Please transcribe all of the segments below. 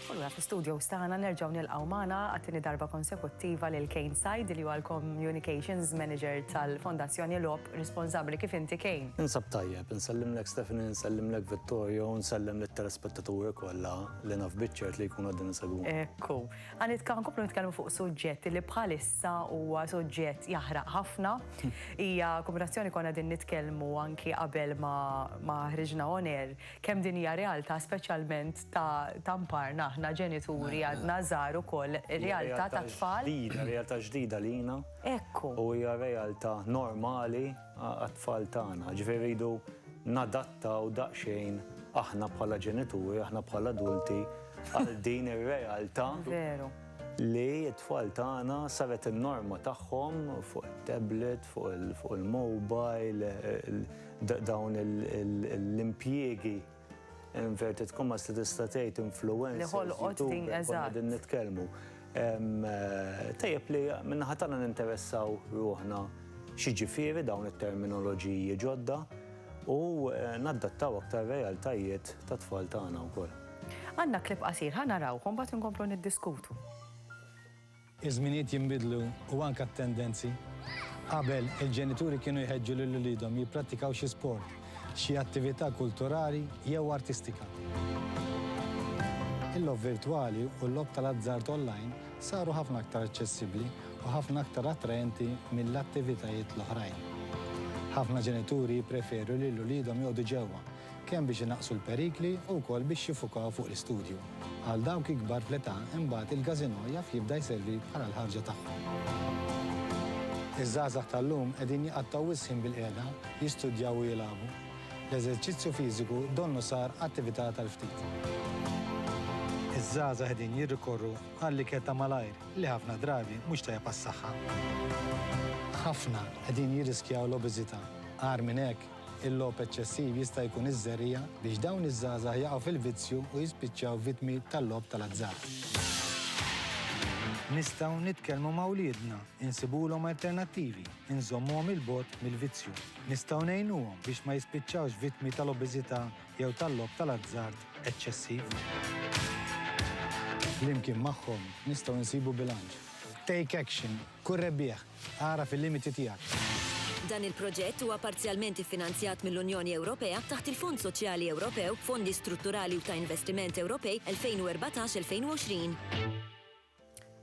U allura fl-istudios tagħna nerġgħu nilqgħu magħna għat-tieni darba konsekuttiva lil Kane Said li huwa l-Communications Manager tal-Fondazzjoni Logħob Responsabbli. Kif inti Kane? Ninsab tajjeb. Insellimlek Stephanie, insellimlek Vittorio u nsellem lit-telespettaturi kollha li naf biċ-ċert li jkunu qegħdin isegwuna. Ekku. Ħa nitka-, nkomplu nitkellmu fuq suġġett li bħalissa huwa suġġett jaħraq ħafna. Hija kombinazzjoni konna qegħdin nitkellmu anki qabel ma, ma ħriġna on air kemm din hija realtà speċjalment ta' ta' mparna aħna ġenituri għadna żgħar ukoll ir-realtà tat-tfal. Hija realtà ġdida, realtà ġdida lina. Ekku. U hija realtà normali għat-tfal tagħna. Ġifieri rridu nadattaw daqsxejn aħna bħala ġenituri, aħna bħala adulti għal din ir-realtà li t-tfal tagħna saret in-norma tagħhom fuq it-tablet, fuq il-mobile, dawn l-impjiegi. inverted commas li tista' tgħid influenza. Li ħolqot din eżatt. Din nitkellmu. Eh, tajjeb li minnaħa tagħna ninteressaw ruħna xi ġifieri dawn it-terminoloġiji ġodda u eh, naddattaw aktar realtajiet ta' tfal tagħna wkoll. Għandna klib qasir ħa narawhom bagħad inkomplu niddiskutu. Iż-żminijiet jinbidlu u anke t-tendenzi. Qabel, il-ġenituri kienu jħeġġu lil uliedhom jipprattikaw xi sport, xi attività kulturali jew artistika. Il-logħob virtwali u l-logħob tal-azzard onlajn saru ħafna aktar aċċessibbli u ħafna aktar attraenti mill-attivitajiet l-oħrajn. Ħafna ġenituri jippreferu lil uliedhom joqogħdu ġewwa kemm biex inaqqsu l-perikli u wkoll biex jiffukaw fuq l-istudju. Għal dawk ikbar fl-età imbagħad il-każinò jaf jibda jservi bħala l-ħarġa tagħhom. Iż-żgħażagħ tal-lum qegħdin jqattgħu wisq ħin bil-qiegħda, jistudjaw u jilagħbu. L-eżerċizzju fiżiku donnu sar attività tal-ftit. Iż-żgħażagħ qegħdin jirrikorru għall-ikel ta' malajr li ħafna drabi mhux tajjeb għas-saħħa. Ħafna qegħdin jirriskjaw l-obeżità. Agħar minn hekk, Il-logħob eċċessiv jista' jkun iż-żerriegħa biex dawn iż-żgħażagħ jaqgħu fil-vizzju u jispiċċaw vittmi tal-logħob tal-azzard. Nistgħu nitkellmu ma' wliedna, insibulhom alternattivi, inżommuhom 'il bogħod mill-vizzju. Nistgħu ngħinuhom biex ma jispiċċawx vittmi tal-obeżità jew tal-logħob tal-azzard eċċessiv. Flimkien magħhom nistgħu nsibu bilanċ. Take Action Kun rebbieħ. Agħraf il-limiti tiegħek. Dan il-proġett huwa parzjalment iffinanzjat mill-Unjoni Ewropea taħt il-Fond Soċjali Ewropew, Fondi Strutturali u ta' Investiment Ewropej 2014-2020.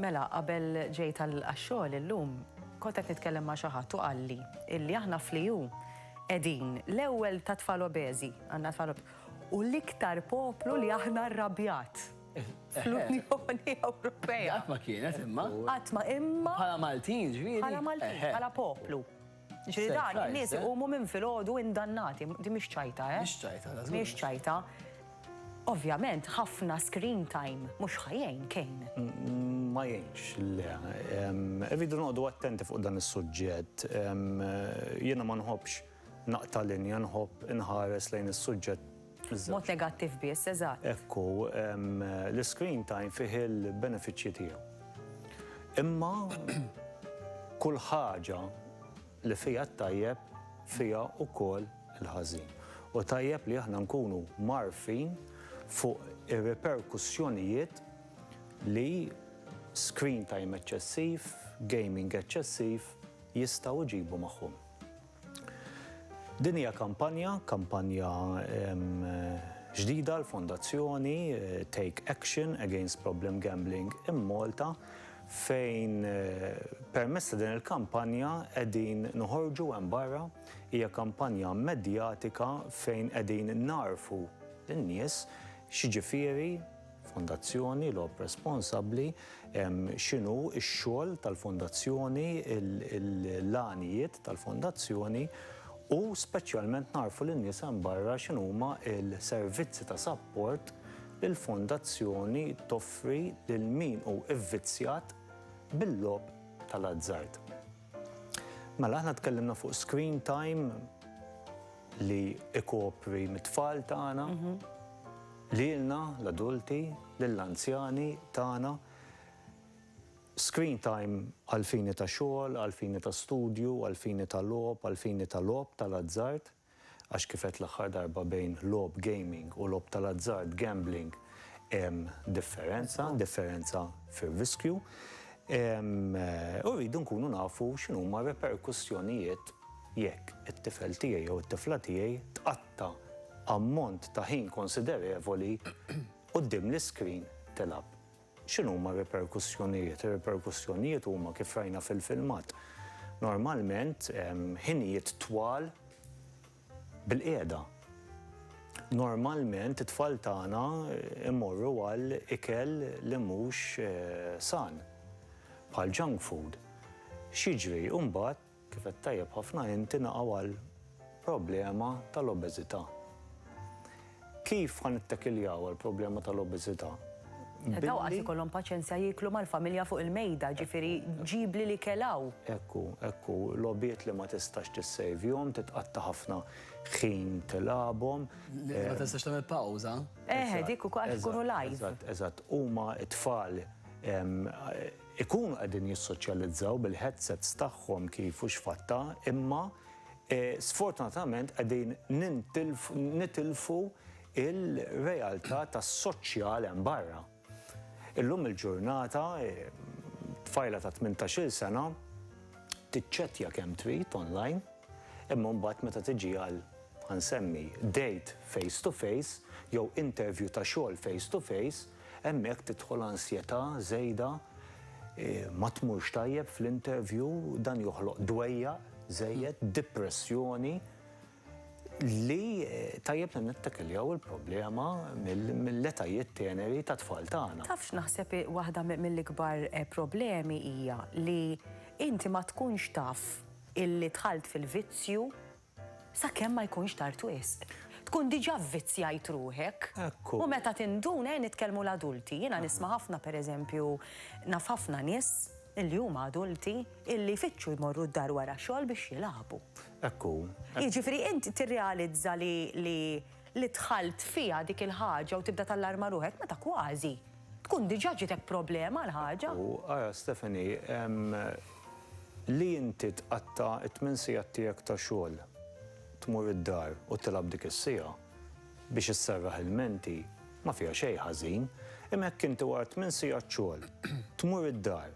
Mela, qabel ġejt għax-xogħol illum, kont qed nitkellem ma' xi ħadd u qalli illi aħna fl-EU qegħdin l-ewwel tat-tfal obeżi, għandna tfal u l-iktar poplu li aħna rrabjat. fl-Unjoni Ewropea. Qatt ma kienet imma. Qatt ma imma. Bħala Maltin ġviri. Bħala Maltin, bħala poplu. Ġviri dan, nies eh? iqumu minn filgħodu indannati, di mhix ċajta, eh? Mhix ċajta, Mhix ċajta. Ovvjament, ħafna screen time, mhux ħajjejn kejn. Ma jgħinx, le. Irridu noqdu attenti fuq dan is-suġġett. Jiena ma nħobbx naqta' linja nħobb inħares lejn is-suġġett Mod negattiv biss, eżatt. Ekku, l-screen time fih il-benefiċċji tiegħu. Imma kull ħaġa li fija t-tajjeb fija wkoll il-ħażin. U tajjeb li aħna nkunu marfin fuq ir-riperkussjonijiet li screen time eċċessiv, gaming eċċessiv jistgħu jġibu magħhom. Din hija kampanja, kampanja ġdida l-Fondazzjoni Take Action Against Problem Gambling in Malta fejn permezz ta' din il-kampanja qegħdin noħorġu hemm barra, hija kampanja medjatika fejn qegħdin nagħrfu lin-nies x'jiġifieri, fondazzjoni, logħob responsabbli, x'inhu x-xogħol tal-fondazzjoni, l-għanijiet tal-fondazzjoni u speċjalment nagħrfu lin-nies hemm barra x'inhuma l-servizzi ta' sapport li l-fondazzjoni toffri lil min hu vvizzjat bil-logħob tal-azzard. Mela aħna tkellimna fuq screen time, li ikopri mit-tfal tagħna, lilna l-adulti, lill-anzjani tagħna, screen time għall-fini ta' xogħol, għall-fini ta' studju, għall-fini ta' logħob, għall-fini ta' logħob tal-azzard, għax kif għedt l-aħħar darba bejn logħob gaming u logħob tal-azzard, gambling, hemm differenza, differenza fir-riskju. U rridu nkunu nafu x'inhuma r-reperkussjonijiet Jekk it-tifel tiegħi jew it-tifla tiegħi tqatta' ammont ta' ħin konsiderevoli quddiem l-iskrin tilgħab, x'inhuma r-riperkussjonijiet? Ir-riperkussjonijiet huma kif rajna fil-filmat. Normalment ħinijiet twal bil-qiegħda. Normalment it-tfal tagħna jmorru għal ikel li mhux san, bħal junk food. X'jiġri mbagħad? Kif għedt tajjeb ħafna inti naqgħu għal problema tal-obeżità. Kif ħa nittakiljaw għall-problema tal-obeżità? Daw qatt ikollhom paċenzja jieklu mal-familja fuq il-mejda, ġifieri ġibli li kelgħu. Ekku, ekku, logħbiet li ma tistax tissejvjhom, titqatta' ħafna ħin tilgħabhom. Li ma tistax tagħmel pawża. Eħe, dik ukoll għax ikunu live. Eżatt, eżatt, huma t-tfal ikunu qegħdin jissoċjalizzaw bil-headsets tagħhom kif u x'fatt ta' imma sfortunatament qegħdin nitilfu il-realtà tas-soċjal hemm barra. Illum il-ġurnata tfajla ta' tmintax-il sena tiċċettja kemm trid online imma mbagħad meta tiġi għal, ħa nsemmi, date face to face jew interview ta' xogħol face to face, Hemmhekk tidħol ansjetà żejda, ma tmurx tajjeb fl-interview, dan joħloq dwejjaq żejjed, dipressjoni li tajjeb li nittakiljaw il-problema mill-etajiet teneri tat-tfal tagħna. Taf x'naħseb waħda mill-ikbar problemi hija li inti ma tkunx taf illi dħalt fil-vizzju Sakemm ma jkunx tard wisq. Tkun diġà vvizzjajt ruħek. Hekk hu. U meta tinduna, ejja nitkellmu l-adulti, jiena nisma' ħafna pereżempju, naf ħafna nies li huma adulti illi jfittxu jmorru d-dar wara xogħol biex jilagħbu. Hekk hu. Jiġifieri int tirrealizza li dħalt fiha dik il-ħaġa u tibda tallarma ruħek meta kważi. Tkun diġà ġietek problema l-ħaġa. U ara Stephanie, li inti tqatta' t-tmien sigħat tiegħek ta' xogħol, tmur id-dar u tilgħab dik is-siegħa biex isserraħ ilmenti, ma fiha xejn ħażin. Imma jekk inti wara t-tmien sigħat xogħol, tmur id-dar,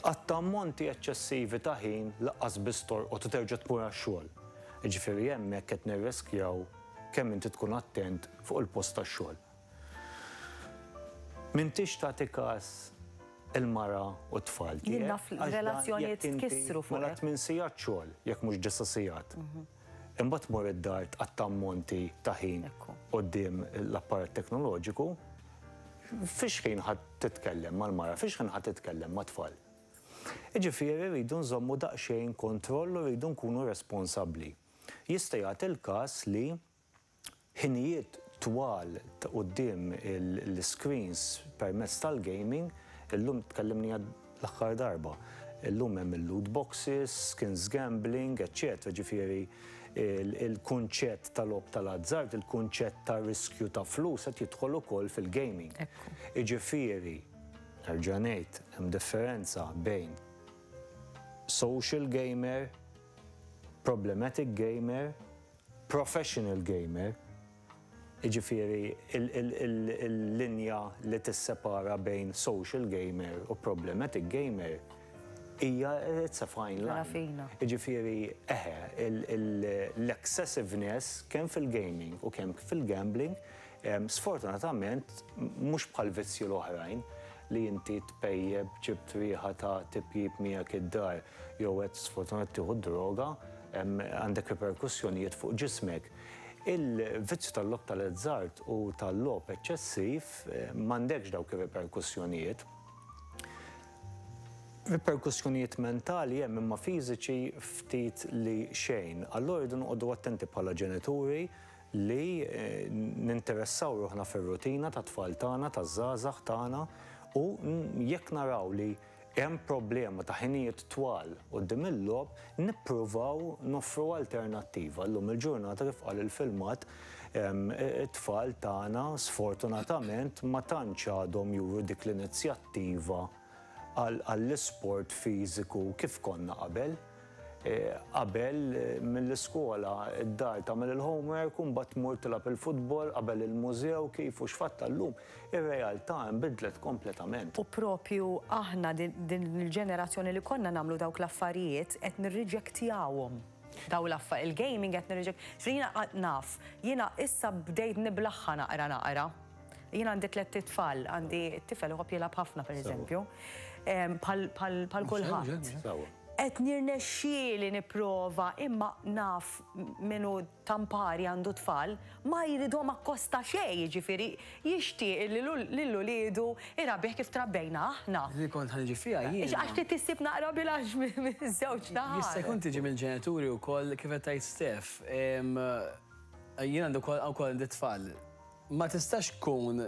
tqatta' ammonti eċċessivi ta' ħin laqqas biss torqod u terġa' tmur għax-xogħol, jiġifieri hemmhekk qed nirreskjaw kemm inti tkun attent fuq il-post tax-xogħol. M'intix tagħti kas il-mara u t-tfal tiegħek. Jien naf relazzjonijiet tkissru fuq hekk. Mela tmien sigħat xogħol, jekk mhux disa' sigħat. Imbagħad tmur id-dar tqatta' ammonti ta' ħin quddiem l-apparat teknoloġiku. Fiex ħin ħa titkellem mal-mara, fiex ħin ħa titkellem mat-tfal? Jiġifieri rridu nżommu daqsxejn kontroll u rridu nkunu responsabbli. Jista' jagħti l-każ li ħinijiet twal ta' quddiem l-iscreens permezz tal-gaming, illum tkellimniha l-aħħar darba, illum hemm il-loot boxes, skins gambling, eċċetera Ġifieri l-kunċett ta' logħob tal-azzard, il-kunċett ta' riskju ta' flus qed jidħol ukoll fil-gaming. Jiġifieri, nerġa' ngħid, hemm differenza bejn social gamer, problematic gamer Professional gamer, jiġifieri l-linja li tissepara bejn social gamer u problematic gamer hija it's a fine line. Rafina. Jiġifieri, eħe, l-excessiveness kemm fil-gaming u kemm fil-gambling Sfortunatament, mhux bħall-vizzji l-oħrajn, li inti tpejjep, ġibt riħa ta' tipjip miegħek id-dar jew qed sfortunat tieħu d-droga, għandek riperkussjonijiet fuq ġismek. Il-vizzju tal-logħob tal-azzard u tal-logħob eċċessiv m'għandekx dawk ir-riperkussjonijiet. Riperkussjonijiet mentali hemm imma fiżiċi ftit li xejn. Allura rridu noqogħdu attenti bħala ġenituri li ninteressaw ruħna fir-rutina tat-tfal tagħna, taż-żgħażagħ tagħna u jekk naraw li hemm problema ta' ħinijiet twal quddiem il-logħob, nippruvaw noffru alternattiva. Llum il-ġurnata kif qal il-filmat, it-tfal tagħna sfortunatament ma tantx għadhom juru dik l-inizjattiva. għall-isport fiżiku kif konna qabel. Qabel, mill-iskola, id-dar tagħmel il-homework u mbagħad tmur tilgħab il-futbol, qabel il-mużew, kif u x'fatt llum, ir-realtà inbidlet kompletament. U proprju aħna, din il-ġenerazzjoni li konna nagħmlu dawk l-affarijiet, qed nirriġektjawhom. Dawn l-affa, il-gaming qed nirriġek, jiena naf, jiena issa bdejt niblaħħa naqra naqra. Jien għandi tlet tfal, għandi tifel uħob jilab ħafna per eżempju, pal kulħadd. Et nirnexxieli nipprova imma naf minu tampari għandu tfal ma jridhom akkosta xej, ġifiri jixtieq li l ulidu irabih kif trabbejna aħna. Li kont ħanġi fija jien. Għax ti tissib naqra bilax minn żewġ naħat. Jista' jkun tiġi mill-ġenituri wkoll kif qed tgħid Stef. Jien għandu wkoll għandi tfal. Ma tistax tkun,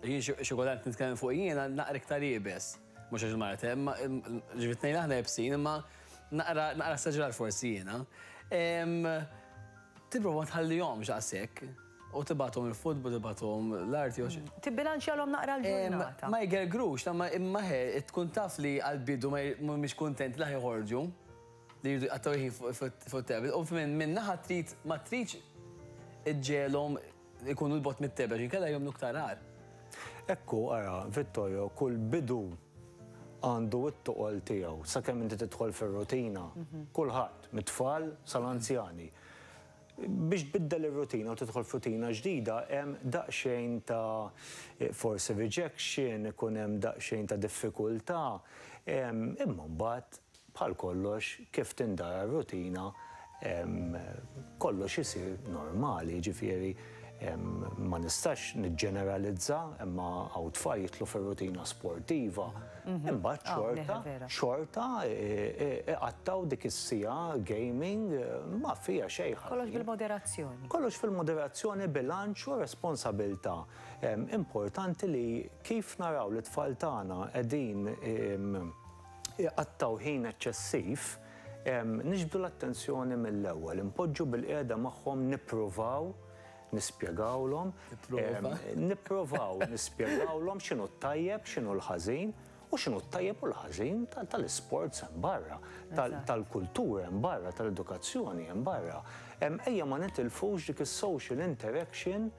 jien xi kultant nitkellem fuqi jiena, naqra iktar iebes, mhux għax il-mara te, imma ġifieri t-tnejn aħna iebsin imma naqra naqra esaġerat forsi jiena. Tipprova ma tħallihomx daqshekk u tibgħathom il-futbol, tibgħathom l-arti jew xi. Tibbilanċjalhom naqra l-ġurnata. Ma jgergrux, imma imma he tkun taf li għall-bidu mhumiex kuntenti li ħa joħorġu, li jridu jqattgħu l-ħin fuq it-tablet u minn naħa trid ma tridx iġġegħelhom ikunu 'l bogħod mit-tegħb għax inkella jagħmlu iktar agħar. Hekk hu, ara, Vittorio, kull bidu għandu t-toqol tiegħu sakemm inti tidħol fir-rutina. Kulħadd, mit-tfal sal-anzjani. Biex tbiddel ir-rutina u tidħol f'rutina ġdida hemm daqsxejn ta' forsi rejection, ikun hemm daqsxejn ta' diffikultà, imma mbagħad Bħal kollox, kif tindara r-rutina, kollox isir normali, jiġifieri ma nistax niġġeneralizza imma hawn tfal jidħlu fir-rutina sportiva imbagħad xorta, xorta iqattgħu dik is-siegħa gaming ma fiha xejn ħażin. Kollox bil-moderazzjoni. Kollox fil-moderazzjoni, bilanċ u responsabilità. Importanti li kif naraw lit-tfal tagħna qegħdin iqattgħu ħin eċċessiv, niġbdu l-attenzjoni mill-ewwel, inpoġġu bilqiegħda magħhom nippruvaw nispjegawlhom, nipprovaw nispjegawlhom x'inhu t-tajjeb, x'inhu l-ħażin u x'inhu t-tajjeb u l-ħażin tal-isports hemm barra, tal-kultura hemm barra, tal-edukazzjoni hemm barra. Ejja ma nitilfux dik is-social interaction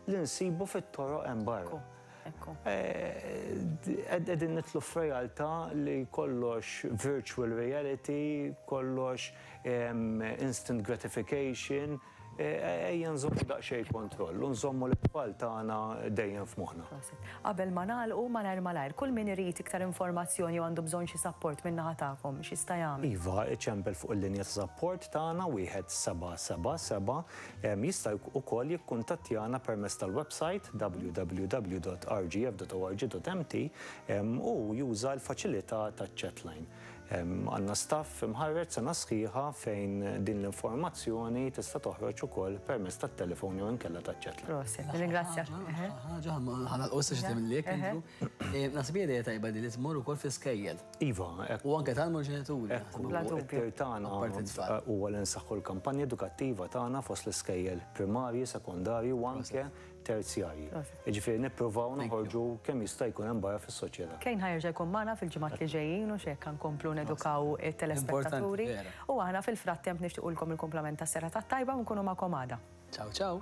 li nsibu fit-toroq hemm barra. Ekku. Qegħdin nitlu f'realtà li kollox virtual reality, kollox instant gratification, ejja nżommu daqsxejn kontroll u nżommu lit-tfal tagħna dejjem f'moħħna. Prosit. Qabel ma nagħlqu, malajr malajr, kull min irid iktar informazzjoni jew għandu bżonn xi sapport min-naħa tagħkom, x'jista' jagħmel? Iva, iċempel fuq il-linja ta' sapport tagħna 1777 Jista' ukoll jikkuntattjana permezz tal-websajt www.rgf.org.mt u juża l-faċilità taċ-chatline. Għandna staff imħarreġ sena sħiħa fejn din l-informazzjoni tista' toħroġ ukoll permezz tat-telefon jew inkella taċ-chatline. Proset, nirringrazzjak. Ħaġa, ħa nagħlqu issa xi tagħmel l-ikel. Naħseb hija idea tajba din li tmur ukoll fl-iskejjel. Iva, hekk. U anke tal-ġenituri. Hekk hu. Bla dubju. It-tir tagħna huwa li nsaħħu l-kampanja edukattiva tagħna fost l-iskejjel primarji, sekondarji u anke terzjarji. Jiġifieri nippruvaw noħorġu kemm jista' jkun hemm barra fis-soċjetà. Kane ħa jerġa' jkun magħna fil-ġimgħat li ġejjin u xi hekk ħa nkomplu nedukaw it-telespettaturi. U aħna fil-frattemp nixtiequlkom il-kumplament tas-serata t-tajba u nkunu magħkom għada. Ciao ciao.